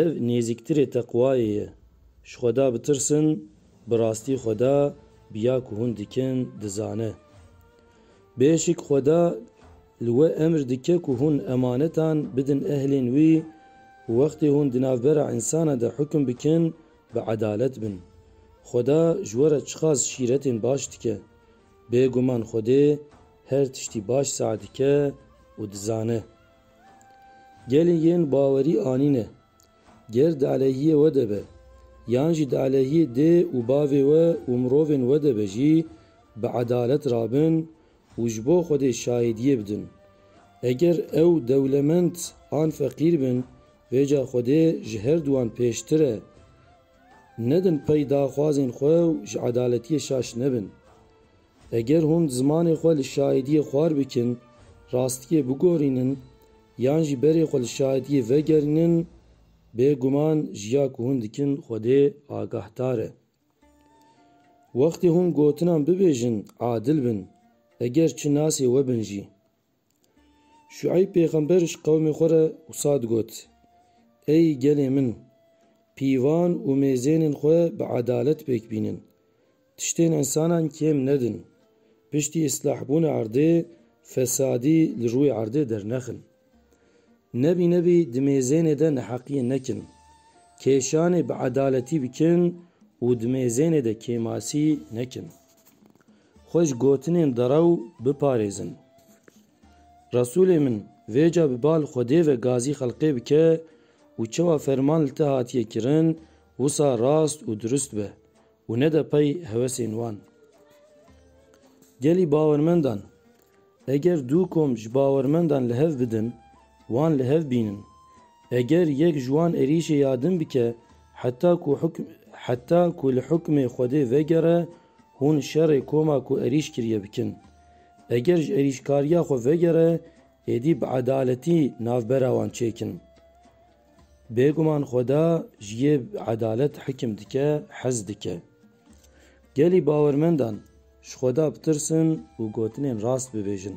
Ev nêzîktirê teqwayê ye. Ji Xweda bitirsin, bi rastî Xweda bi ya ku hûn dikin dizane. Bêşik Xweda li we emr dike ku hûn emanetan bidin ehlên wî û wextê hûn di navbera însanan de hukm bikin, bi edalet bin. Xweda ji we re çiqas şîretên baş dike. Bêguman Xwedê her tiştî baş sae dike û dizane. Gelê yên bawerî anîne, ger di aleyhiyê we de be, yan jî di aleyhiyê dê û bavê we û mirovên we de be jî bi edalet rabin û ji bo Xwedê şahidiyê bidin. Eger ew dewlemend an feqîr bin, vê ca Xwedê ji her duwan pêştir e. Nedin pey daxwazên xwe û ji edaletiyê şaş nebin. Eger hûn zimanê xwe li şahidiyê xwar bikin, rastiyê bigorînin yan jî berê xwe li şahidiyê vegerînin, bê guman ji ya ku hûn dikin Xwedê agahdar e. Wextê hûn gotinan bibêjin, adil bin, eger çi nasê we bin jî. Şueyb pêxember ji qewmê xwe re wisa digot, Ey gelê min! Pîvan û mêzênên xwe bi edalet pêk bînin. Tiştên însanan kêm nedin. Piştî îslahbûna erdê, fesadî li rûyê erdê dernexin. Nebî nebî di mêzênê de neheqiyê nekin. Kêşanê bi edaletî bikin û di mêzênê de kêmasî nekin. Xwe ji gotinên derew biparêzin. Resûlê min vêca bi bal Xwedê ve gazî xelqê bike û çewa ferman li te hatiye kirin wisa rast û dirust be û nede pey hewesên wan. Gelî bawermendan Eger du kom ji bawermendan li hev bidin, wan li hev bînin. Eger yek ji wan êrîşê ya din bike heta ku heta ku li hukmê Xwedê vegere, hûn şerê koma ku êrîş kiriye bikin. Eger ji êrîşkariya xwe vegere, êdî bi edaletî navbera wan çêkin. Bêguman Xweda ji yê edalet hikim dike, hez dike. Gelî bawermendan ji Xweda bitirsin û gotinên rast bibêjin.